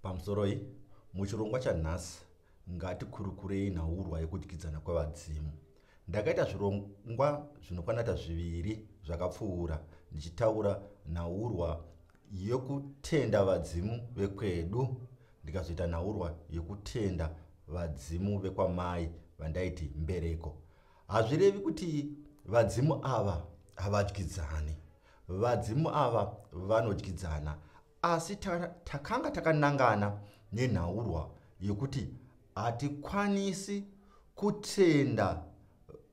Pamusoroi, muchirongwa chanhasi ngatikurukurei nhaurwa yekudyidzana kwevadzimu. Ndakaita zvirongwa zvinokwanata zviviri zvakapfuura ndichitaura nhaurwa yekutenda vadzimu vekwedu ndikazoita nhaurwa yekutenda vadzimu vekwamai vandaiti mbereko. Hazvirevi kuti vadzimu ava havadyidzani. Vadzimu ava vanodyidzana asi takanga takanangana nenhaurwa yekuti hatikwanisi kutenda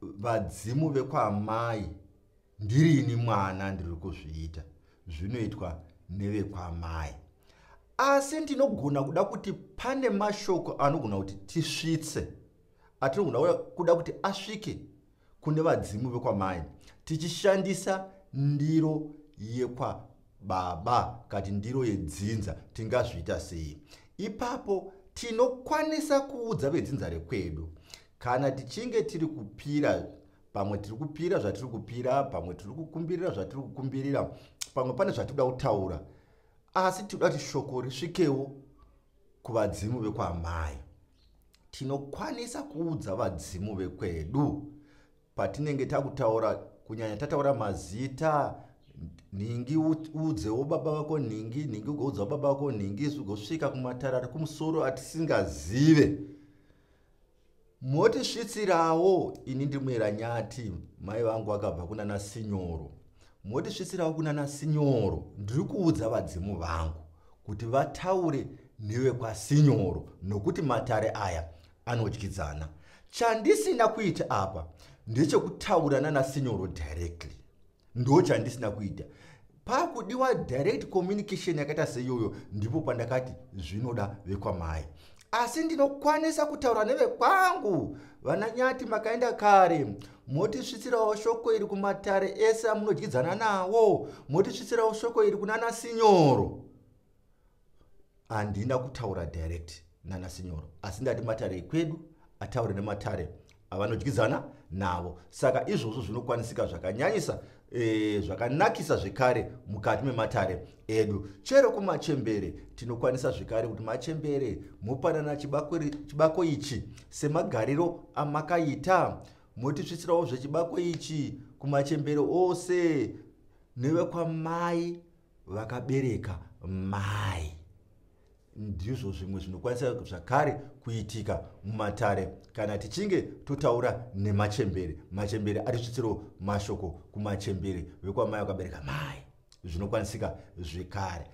vadzimu vekwamai ndirini mwana ndiri kuzviita zvinoitwa nevekwamai asi ndinogona kuda kuti pane mashoko anogona kuti tisvitse atinogona kuda kuti asvike kune vadzimu vekwamai tichishandisa ndiro yekwababa kati ndiro yedzinza tingazviita sei ipapo tinokwanisa kuudza vedzinza rekwedu kana tichinge tiri kupira pamwe tiri kupira zvatiri kupira pamwe tiri kukumbirira zvatiri kukumbirira pamwe pane zvatikuda kutaura asi tikuda kuti shoko risvikewo kuvadzimu vekwaamai tinokwanisa kuudza vadzimu vekwedu patinenge takutaura kunyanya tataura mazita nhingi uudzewo baba vako nhingi nhingi ugoudzawo baba vako nhingi zvigosvika kumatara ari kumusoro atisingazive motisvitsirawo ini ndimuyera nyati mai vangu vakabva kunana sinyoro Motisvitsirawo kunana Sinyoro, ndiri kuudza vadzimu vangu kuti vataure nevekwaSinyoro nokuti matare aya anodyidzana. Chandisina kuita apa ndechekutaura nana Sinyoro directly. Ndo chandisina kuita. Pakudiwa direct communication yakaita seiyoyo ndipo pandakati zvinoda vekwamai asi ndinokwanisa kutaura nevekwangu vananyati makaenda kare motisvitsirawo shoko iri kumatare ese amunodyidzana nawo motisvitsirawo shoko iri kunana sinyoro handina kutaura direct nana sinyoro asi ndati matare ekwedu ataure nematare avanodyidzana navo saka izvozvo zvinokwanisika zvakanyanyisa e, zvakanakisa zvekare mukati mematare edu chero kumachembere tinokwanisa zvekare kuti machembere mopanana chibako, chibako ichi semagariro amakaita motisvitsirawo zvechibako ichi kumachembere ose nevekwamai vakabereka mai ndizvo zvimwe zvinokwanisa zvakare kuitika mumatare kana tichinge totaura nemachembere machembere atisvitsiro mashoko kumachembere vekwamai vakabereka mai zvinokwanisika zvekare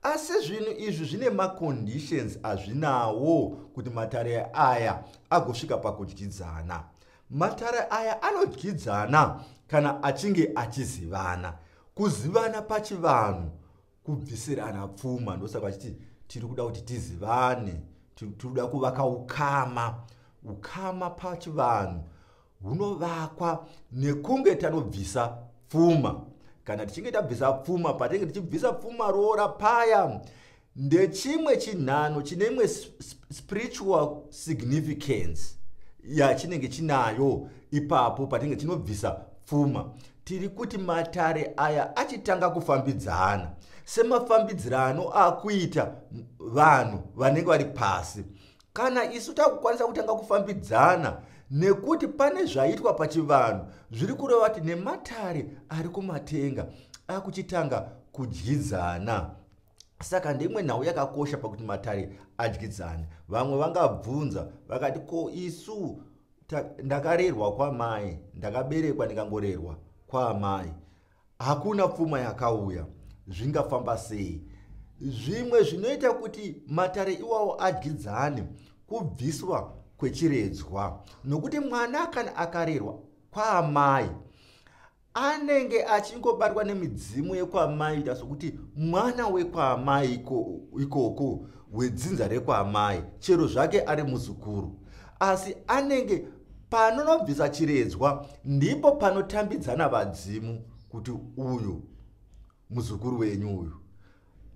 asi zvinhu izvi zvine maconditions azvinawo kuti matare aya agosvika pakudyidzana matare aya anodyidzana kana achinge achizivana kuzivana pachivanhu kubvisirana pfuma ndosaka vachiti tiri kuda kuti tizivane tiri kuda kuvaka ukama ukama pachivanhu hunovakwa nekunge tanobvisa pfuma kana tichinge tabvisa pfuma patinenge tichibvisa pfuma roora paya ndechimwe chinhano chine imwe spiritual significance yachinenge chinayo ipapo patinenge tinobvisa pfuma tiri kuti matare aya achitanga kufambidzana semafambidzirano akuita vanhu vanenge vari pasi kana isu takukwanisa kutanga kufambidzana nekuti pane zvaitwa pachivanhu zviri kureva kuti nematare ari kumatenga akuchitanga kudyidzana saka ndeimwe nhau yakakosha pakuti matare adyidzane vamwe vangabvunza vakati ko isu ndakarerwa kwamai ndakaberekwa ndikangorerwa kwaamai hakuna pfuma yakauya zvingafamba sei zvimwe zvinoita kuti matare iwawo adyidzane kubviswa kwechiredzwa nokuti mwana kana akarerwa kwaamai anenge achingobatwa nemidzimu yekwamaita sokuti mwana wekwaamai ikoko wedzinza rekwaamai chero zvake ari muzukuru asi anenge panonobvisa chiredzwa ndipo panotambidzana vadzimu kuti uyu muzukuru wenyu uyu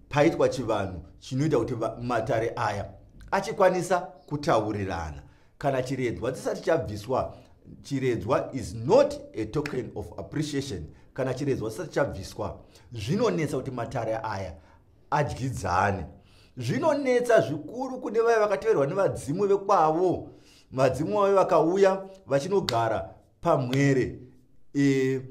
paitwa chivanhu chinoita kuti matare aya achikwanisa kutaurirana kana chiredzwa chisati chabviswa chiredzwa is not a token of appreciation kana chiredzwa chisati chabviswa zvinonetsa kuti matare aya adyidzane zvinonetsa zvikuru kune vaya vakateverwa nevadzimu vekwavo vadzimu vave vakauya vachinogara pamwere e,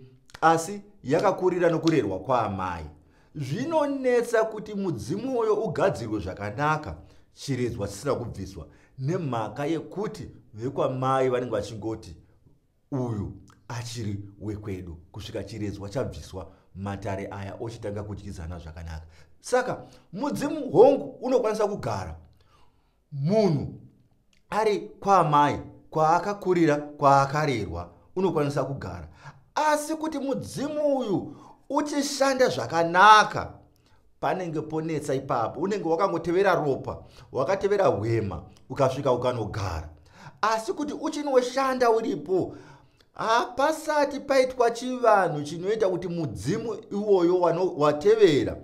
asi yakakurira nokurerwa kwaamai zvinonetsa kuti mudzimu uyo ugadzirwe zvakanaka chiredzwa chisina kubviswa nemhaka yekuti vekwamai vanenge vachingoti uyu achiri wekwedu kusvika chiredzwa chabviswa matare aya ochitanga kudyidzana zvakanaka saka mudzimu hongu unokwanisa kugara munhu ari kwaamai kwaakakurira kwaakarerwa unokwanisa kugara asi kuti mudzimu uyu uchishanda zvakanaka panenge ponetsa ipapo unenge wakangotevera ropa wakatevera hwema ukasvika ukanogara asi kuti uchinoshanda uripo hapasati paitwa chivanhu chinoita kuti mudzimu iwoyo watevera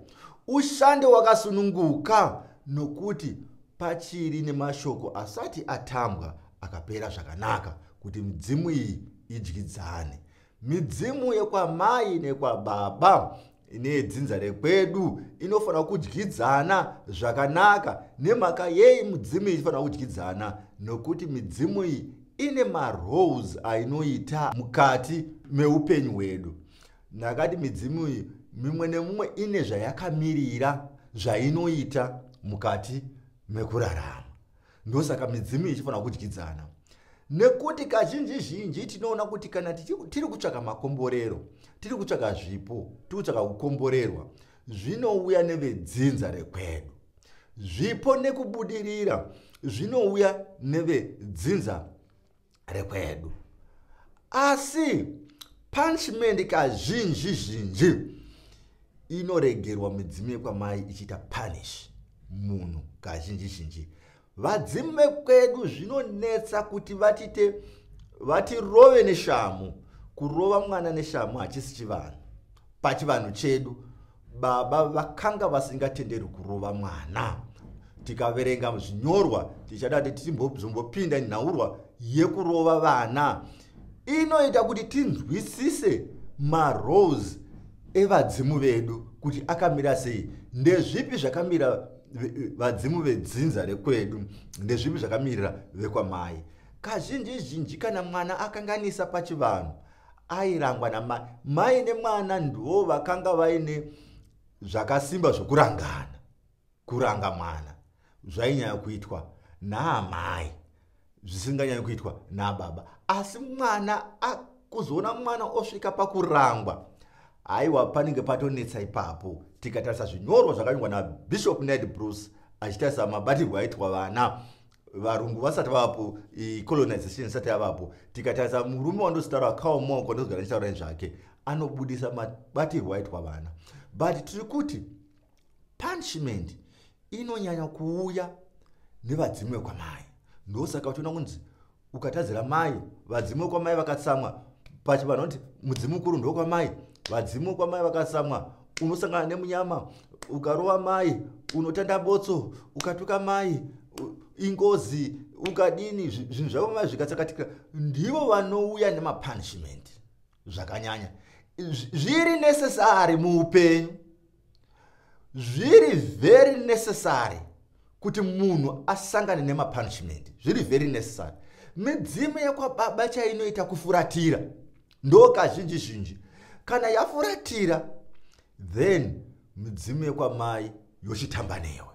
ushande wakasununguka nokuti pachiri nemashoko asati atambwa akapera zvakanaka kuti midzimu iyi idyidzane midzimu yekwamai nekwababa ine dzinza rekwedu inofanira kudyidzana zvakanaka nemhaka yei mudzimu iyi ichifanira kudyidzana nokuti midzimu iyi ine maroles ainoita mukati meupenyu hwedu ndakati midzimu iyi mimwe nemumwe ine zvayakamirira zvainoita mukati mekurarama ndosaka midzimu ichifanira kudyidzana nekuti kazhinji zhinji tinoona kuti kana tiri kutsvaka makomborero tiri kutsvaka zvipo tiri kutsvaka kukomborerwa zvinouya nevedzinza rekwedu zvipo nekubudirira zvinouya nevedzinza rekwedu asi punishment kazhinji zhinji inoregerwa midzimu yekwamai ichiita punish munhu kazhinji zhinji vadzimu vekwedu zvinonetsa kuti vatite vatirove neshamu kurova mwana neshamu hachisi chivanhu pachivanhu chedu baba vakanga vasingatenderwi kurova mwana tikaverenga zvinyorwa tichada kuti tizombopinda nhaurwa yekurova vana inoita kuti tinzwisise marose evadzimu vedu kuti akamira sei ndezvipi zvakamira vadzimu vedzinza rekwedu ndezvipi zvakamirira vekwamai kazhinji zhinji kana mwana akanganisa pachivanhu airangwa namai mai nemwana ndivo vakanga vaine zvakasimba zvokurangana kuranga mwana zvainyanya kuitwa naamai zvisinganyanyi kuitwa nababa asi mwana kuzoona mwana osvika pakurangwa haiwa panenge patonetsa ipapo tikatarisa zvinyorwa zvakanyorwa nabishop ned bruce achitarisa mabatirwo aitwa vana varungu vasati vavapo colonization isati yavapo tikatarisa murume wandositaura akawo maoko ndozogara ndichitaura nezvake anobudisa mabatirwo aitwa vana but tiri kuti punishment inonyanya kuuya nevadzimu vekwamai ndosaka uchiona kunzi ukatadzira mai vadzimu vekwamai vakatsamwa pachivanhu kuti mudzimu mukuru ndokwamai vadzimu vekwamai vakatsamwa unosangana nemunyama ukarova mai unotanda botso ukatuka mai ingozi ukadini zvinhu zvavo mai zvikatsakatikira ndivo vanouya nemapunishment zvakanyanya zviri necessary muupenyu zviri very necessary kuti munhu asangane nemapunishment zviri very necessary midzimu yekwababa chainoita kufuratira ndo kazhinji zhinji kana yafuratira then midzimu yekwamai yochitamba newe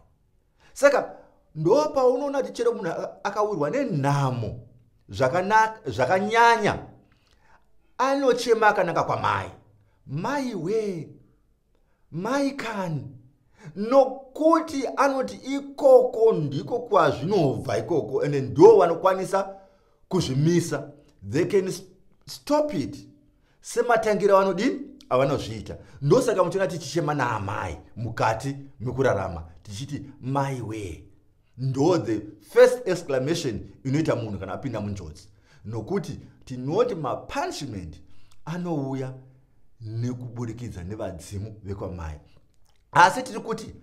saka ndo paunoona kuti chero munhu akawirwa nenhamo zvakanyanya anochema akanaka kwamai mai wee mai kani nokuti anoti ikoko ndiko kwazvinobva ikoko ende ndo vanokwanisa kuzvimisa they can stop it sematangira vanodini avanozviita ndosaka muchiona tichichema naamai mukati mekurarama tichiti mai wee ndo the first exclamation inoita munhu kana apinda munjodzi nokuti tinoti mapunishment anouya nekuburikidza nevadzimu vekwamai asi tiri kuti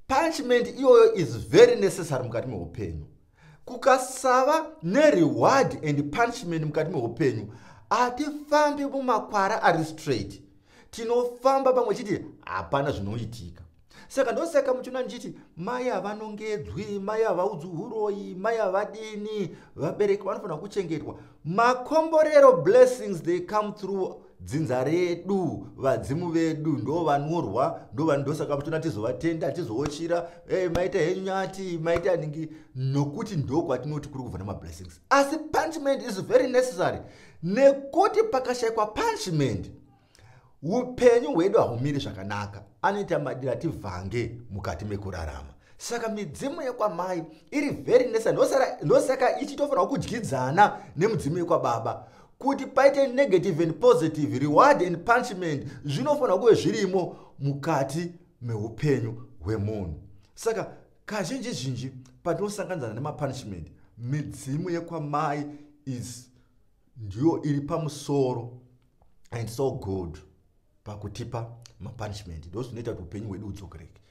punishment iyoyo is very necessary mukati meupenyu kukasava nereward and punishment mukati meupenyu hatifambi mumakwara ari straight tinofamba pamwe chiti hapana zvinoitika saka ndosaka muchiona ndichiti mai havanongedzwi mai havaudzwi uroyi mai havadini vabereki vanofanira kuchengetwa makomborero blessings they come through dzinza redu vadzimu vedu ndo vanyorwa ndo vanhu ndosaka tona tizovatenda tizowochira hey, eh, maita henyu nyati maita ningi nokuti ndo kwatinoti kuri kubva nemablessings asi punishment is very necessary nekuti pakashayikwa punishment upenyu hwedu haumiri zvakanaka anoita madira tivhange mukati mekurarama saka midzimu yekwamai iri very necessary ndosaka ichitofanirwa kudyidzana nemudzimu yekwababa kuti paite negative and positive reward and punishment zvinofanira kuve zvirimo mukati meupenyu hwemunhu saka kazhinji zhinji patinosanganidzana nemapunishment midzimu yekwamai is ndiyo iri pamusoro and so good pakutipa mapunishment ndo zvinoita kuti upenyu hwedu hudzokereke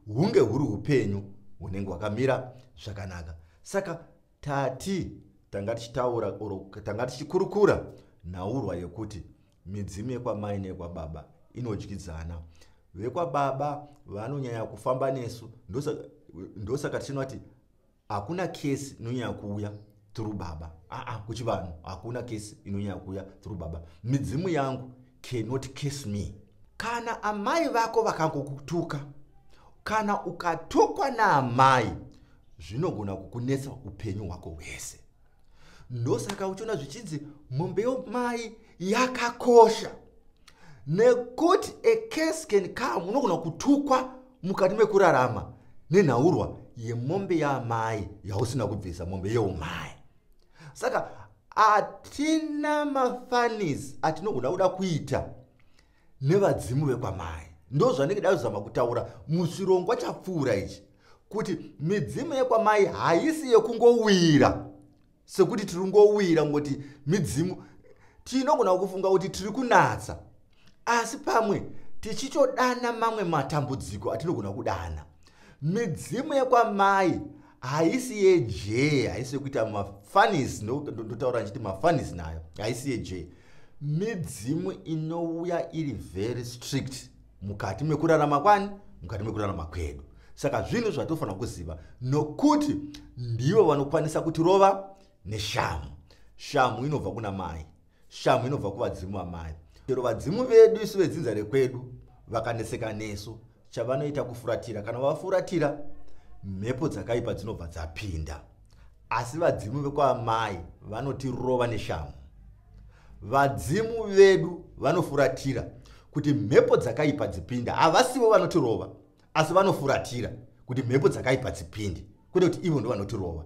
hunge huri upenyu hunenge hwakamira zvakanaka saka Tati tanga tichitaura or tanga tichikurukura nhaurwa yekuti midzimu yekwamai neyekwababa inodyidzana. Vekwababa vanonyanya kufamba nesu ndosaka tichinwa kuti hakuna kesi inonyanya kuuya through baba aa kuchivanhu hakuna kesi inonyanya kuuya through baba midzimu yangu cannot kiss me kana amai vako vakangokutuka kana ukatukwa naamai zvinogona kukunetsa upenyu hwako hwese ndosaka uchiona zvichinzi mombe yomai yakakosha nekuti a case can come unogona kutukwa mukati mekurarama nenhaurwa yemombe yaamai yausina kubvisa mombe yeumai saka hatina mafanis atinogona kuda kuita nevadzimu vekwamai ndo zvanenge da kuzama kutaura muchirongwa chapfuura ichi kuti midzimu yekwamai haisi yekungowira sekuti tiri ngowira ngoti midzimu tinogona kufunga kuti tiri kunatsa asi pamwe tichitodana mamwe matambudziko atinogona kudana midzimu yekwamai haisi yejee haisi yekuita mafanis ndotaura ndichiti mafanis nayo haisi yejee midzimu inouya iri very strict mukati mekurarama kwani mukati mekurarama kwedu saka zvinhu zvatofanira kuziva nokuti ndivo vanokwanisa kutirova neshamhu shamhu inobva kuna mai shamhu inobva kuvadzimu amai chero vadzimu vedu isu vedzinza rekwedu vakaneseka nesu chavanoita kufuratira kana vafuratira mhepo dzakaipa dzinobva dzapinda asi vadzimu vekwaamai vanotirova neshamhu vadzimu vedu vanofuratira kuti mhepo dzakaipa dzipinda havasivo vanotirova asi vanofuratira kuti mhepo dzakaipa dzipinde kwete kuti ivo ndovanotirova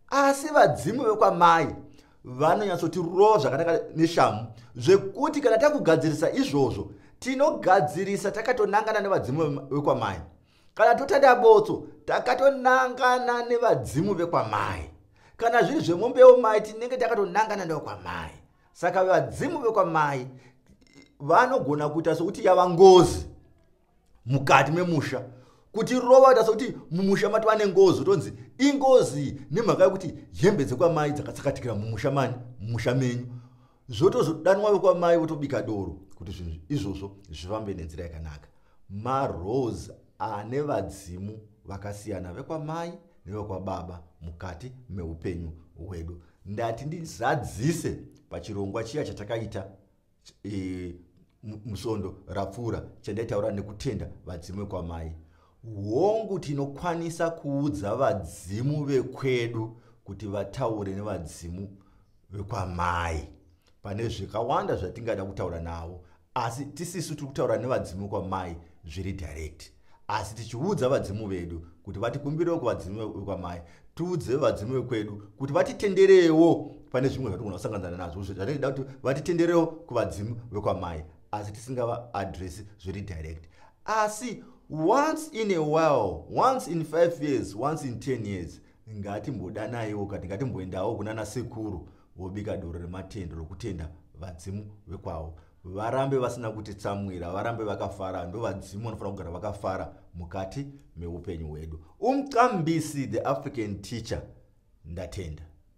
asi vadzimu vekwamai vanonyatsotirova zvakanaka neshamu zvekuti kana takugadzirisa izvozvo tinogadzirisa takatonangana nevadzimu vekwamai kana totanda botso takatonangana nevadzimu vekwamai kana zviri zvemombewo mai tinenge takatonangana nevekwamai saka vadzimu vekwamai vanogona kuita sokuti yava ngozi mukati memusha kuti rova kuita sokuti mumusha matova nengozi utonzi ingozi nemhaka yekuti hembe dzekwamai dzakatsakatikira mumusha mani mumusha menyu zvotozodanwa vekwamai votobika doro kuti zvinhu izvozvo zvifambe nenzira yakanaka marose ane vadzimu vakasiyana vekwamai nevekwababa mukati meupenyu hwedu ndati ndizadzise pachirongwa chiya chatakaita e, musondo rapfuura chandaitaura nekutenda vadzimwe kwamai hongu tinokwanisa kuudza vadzimu vekwedu kuti vataure nevadzimu vekwamai pane zvakawanda zvatingada kutaura navo asi tisisu tiri kutaura nevadzimu kwamai zviri direct asi tichiudza vadzimu vedu kuti vatikumbirewo kuvadzimu vekwamai tiudze vadzimu vekwedu kuti vatitenderewo pane zvimwe zvatigona kusanganana nazvo zvatinoda kuti vatitenderewo kuvadzimu vekwamai asi tisingava adresi zviri direct asi once in a while once in five years once in ten years ngatimbodanaiwo kati ngatimboendawo kunana sekuru vobika doro rematendo rokutenda vadzimu vekwavo varambe vasina kutitsamwira varambe vakafara ndovadzimu vanofanira kugara vakafara mukati meupenyu hwedu umqambisi the african teacher ndatenda